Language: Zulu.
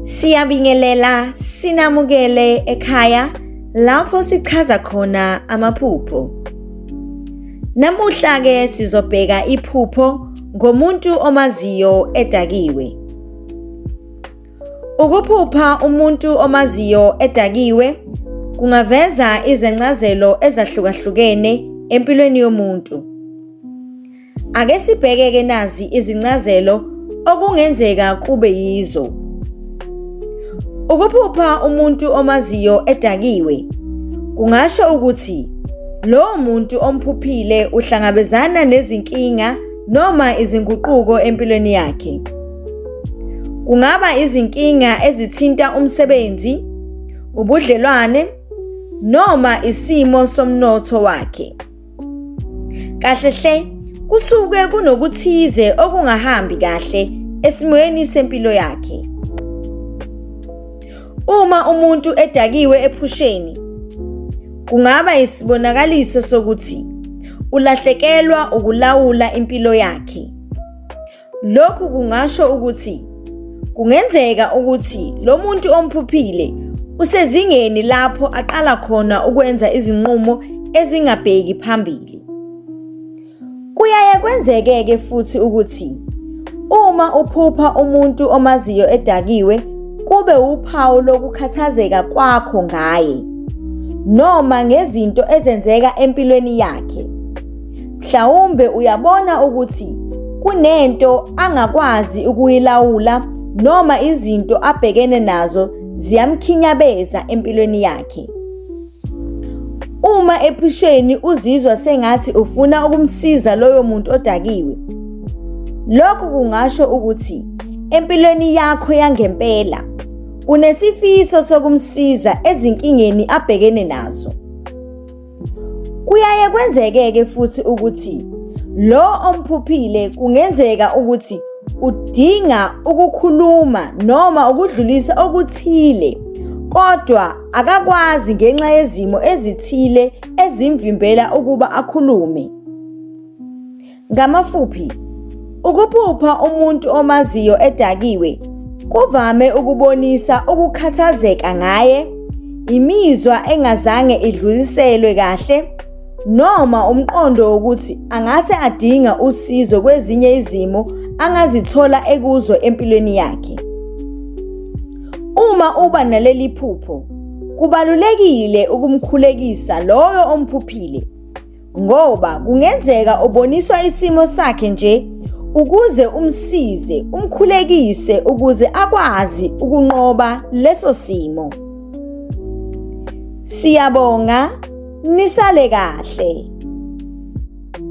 Siyabingelela sinamukele ekhaya lapho sichaza khona amaphupho. Namuhla ke sizobheka iphupho ngomuntu omaziyo edakiwe. Ukuphupha umuntu omaziyo edakiwe kungaveza izencazelo ezahlukahlukene empilweni yomuntu. Ake sibheke-ke nazi izincazelo okungenzeka kube yizo. Ukuphupha umuntu omaziyo edakiwe kungasho ukuthi lowo muntu omphuphile uhlangabezana nezinkinga noma izinguquko empilweni yakhe. Kungaba izinkinga ezithinta umsebenzi, ubudlelwane noma isimo somnotho wakhe. Kahle hle kusuke kunokuthize okungahambi kahle esimweni sempilo yakhe. Uma umuntu edakiwe ephusheni kungaba isibonakaliso sokuthi ulahlekelwa ukulawula impilo yakhe. Lokhu kungasho ukuthi kungenzeka ukuthi lo muntu omphuphile usezingeni lapho aqala khona ukwenza izinqumo ezingabheki phambili. Kuyaye kwenzeke-ke futhi ukuthi uma uphupha umuntu omaziyo edakiwe kube wuphawu lokukhathazeka kwakho ngaye noma ngezinto ezenzeka empilweni yakhe. Mhlawumbe uyabona ukuthi kunento angakwazi ukuyilawula noma izinto abhekene nazo ziyamkhinyabeza empilweni yakhe. Uma ephusheni uzizwa sengathi ufuna ukumsiza loyo muntu odakiwe. Lokhu kungasho ukuthi empilweni yakho yangempela unesifiso sokumsiza ezinkingeni abhekene nazo. Kuyaye kwenzekeke futhi ukuthi lo omphuphile kungenzeka ukuthi udinga ukukhuluma noma ukudlulisa okuthile kodwa akakwazi ngenxa yezimo ezithile ezimvimbela ukuba akhulume. Ngamafuphi, ukuphupha umuntu omaziyo edakiwe kuvame ukubonisa ukukhathazeka ngaye, imizwa engazange idluliselwe kahle noma umqondo wokuthi angase adinga usizo kwezinye izimo angazithola ekuzo empilweni yakhe. Uma uba naleli phupho, kubalulekile ukumkhulekisa loyo omphuphile ngoba kungenzeka uboniswa isimo sakhe nje ukuze umsize umkhulekise ukuze akwazi ukunqoba leso simo siyabonga nisale kahle